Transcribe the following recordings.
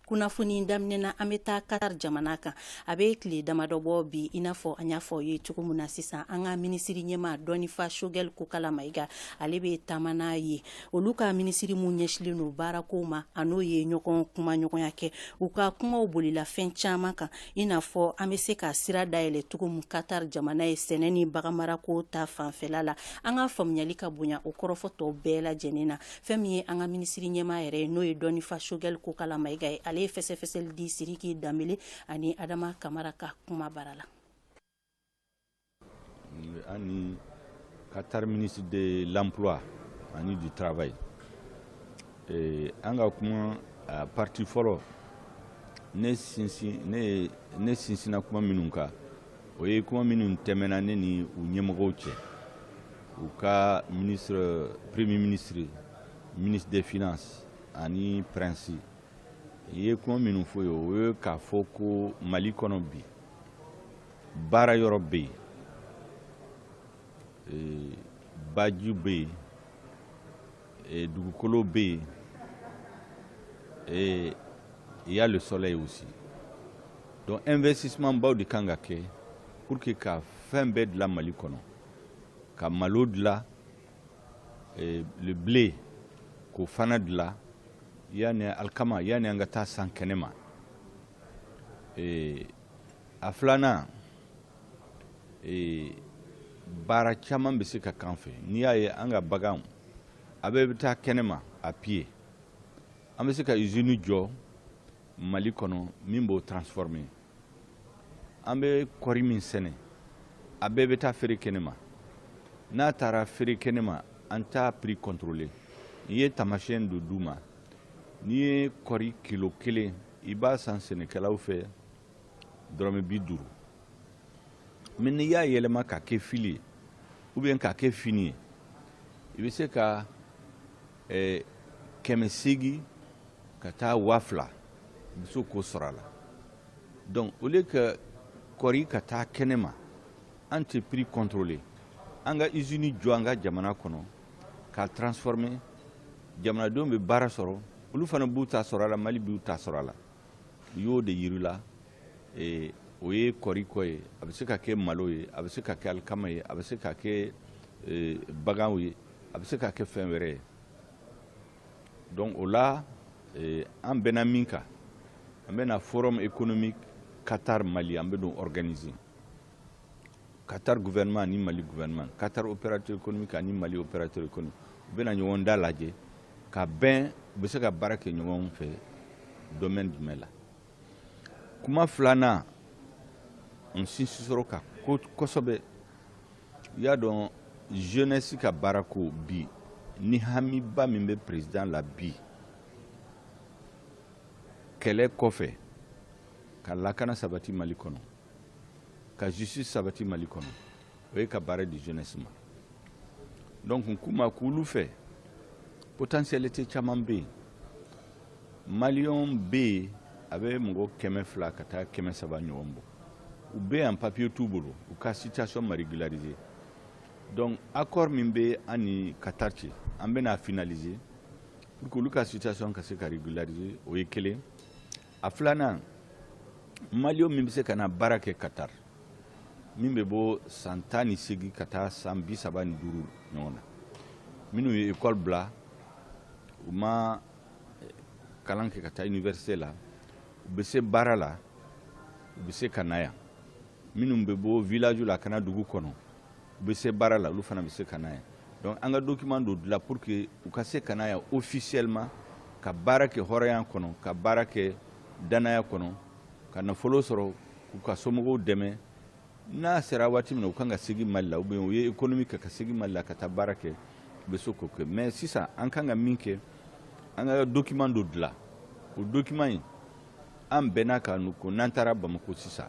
kunnafoni daminɛ na an bɛ taa katar jamana kan a bɛ tile damadɔ bɔ bi i n'a fɔ an y'a fɔ aw ye cogo min na sisan an ka minisiri ɲɛmaa dɔnnifa Choguel Kokalla Maïga ale bɛ taama na yen olu ka minisiri minnu ɲɛsinlen don baarako ma a n'o ye ɲɔgɔn kumaɲɔgɔnya kɛ u ka kumaw bolila fɛn caman kan i n'a fɔ an bɛ se ka sira dayɛlɛn cogo min katar jamana ye sɛnɛ ni baganmarako ta fanfɛla la an ka faamuyali ka bonya o kɔrɔfɔ tɔ bɛɛ lajɛlen na Fɛn min ye an ka minisiri ɲɛmaa yɛrɛ ye n'o ye dɔnnifa Choguel Kokalla Maïga ye ale ye fɛsɛfɛsɛli di Siriki Dembélé ani adama kamara ka kumabara la an ni Qatar ministre de l'emploi ani du travail ye ee an ka kuma partie fɔlɔ ne ne sinsinna kuma minnu kan o ye kuma minnu tɛmɛna ne ni u ɲɛmɔgɔw cɛ u ka ministre premier ministre ministre des finances ani prince n ye kuma minnu fɔ u ye o ye k'a fɔ ko mali kɔnɔ bi baara yɔrɔ bɛ yen e, baji bɛ yen Et dugukolo bɛ yen et il y a le soleil aussi donc investissement baw de kan ka kɛ pour que ka fɛn bɛɛ dilan mali kɔnɔ ka malo dilan eh, le blé k'o fana dilan yan alikama yanni an ka taa san kɛnɛ ma eh, a filanan ee baara caman bɛ se ka kɛ an fɛ n'i y'a ye an ka baganw a bɛɛ bɛ taa kɛnɛma à pied an bɛ se ka izini jɔ mali kɔnɔ min b'o transformer an bɛ kɔri min sɛnɛ a bɛɛ bɛ taa feere kɛnɛma n'a taara feere kɛnɛma an t'a prix contrôler n ye taamasiyɛn dɔ d'u ma n'i ye kɔri kilo kelen i b'a san sɛnɛkɛlaw fɛ dɔrɔmɛ bi duuru mais n'i y'a yɛlɛma k'a kɛ fil ye ou bien k'a kɛ fini ye i bɛ se ka eh, kɛmɛ seegin ka taa waa fila i bɛ se k'o sɔrɔ a la donc au lieu que kɔri ka taa kɛnɛ ma an tɛ prix contrôler an ka usine jɔ an ka jamana kɔnɔ k'a transformer jamanadenw bɛ baara sɔrɔ olu fana b'u ta sɔrɔ a la mali b'u ta sɔrɔ a la n y'o de yira u la ee o ye kɔri ko ye a bɛ se ka kɛ malo ye a bɛ se ka kɛ alikama ye a bɛ se ka kɛ ee baganw ye a bɛ se ka kɛ fɛn wɛrɛ ye donc o la ee an bɛnna min kan an bɛna forum économique Qatar Mali an bɛn'o organiser Qatar gouvernement ni mali gouvernement Qatar opérateur économique ani mali opérateur économique u bɛna ɲɔgɔn da lajɛ ka bɛn u bɛ se ka baara kɛ ɲɔgɔn fɛ domaine jumɛn la kuma filanan n sinsin sɔrɔ ka ko kosɛbɛ i y'a dɔn jeunesse ka baarako bi ni hamiba min bɛ président la bi kɛlɛ kɔfɛ ka lakana sabati mali kɔnɔ ka justice sabati mali kɔnɔ o ye ka baara di jeunesse ma donc n ko ma k'olu fɛ potentialité caman bɛ yen malien bɛ yen a bɛ mɔgɔ kɛmɛ fila ka taa kɛmɛ saba ɲɔgɔn bɔ u bɛ yan papiye t'u bolo u ka situation ma régulariser donc accord min bɛ an ni Qatar cɛ an bɛna finaliser pour que olu ka situation ka se ka régulariser o ye kelen A filanan malien min bɛ se ka na baara kɛ Qatar min bɛ bɔ san tan ni seegin ka taa san bi saba ni duuru ɲɔgɔn na minnu ye école bila u ma eh, kalan kɛ ka taa université la u bɛ se baara la u bɛ se ka na yan minnu bɛ bɔ village la ka na dugu kɔnɔ u bɛ se baara la olu fana bɛ se ka na yan donc an ka document dɔ dilan pour que u ka se ka na yan officiellement ka baara kɛ hɔrɔnya kɔnɔ ka baara kɛ danaya kɔnɔ ka nafolo sɔrɔ k'u ka somɔgɔw dɛmɛ n'a sera waati min na u kan ka segin mali la ou bien u ye économie kɛ ka segin mali la ka taa baara kɛ u bɛ se k'o kɛ mais sisan an kan ka min kɛ an ka document dɔ dilan o document in an bɛnna a kan ko n'an taara bamako sisan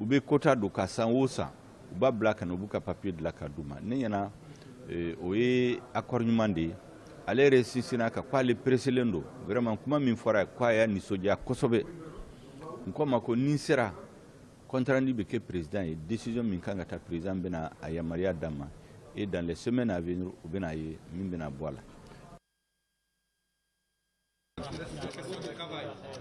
u bɛ quota don ka san o san u b'a bila ka na u b'u ka papiye dilan k'a d'u ma ne ɲɛna eh, o ye accord ɲuman de ye ale yɛrɛ sinsinna a kan ko ale pereselen don vraiment kuma min fɔra ko a y'a nisɔndiya kosɛbɛ n ko ma ko ni n sera compte-rendu bɛ kɛ président ye décision min kan ka ta président bɛna a yamaruya d'a ma et dans les semaines à venir u bɛna a ye min bɛna bɔ a la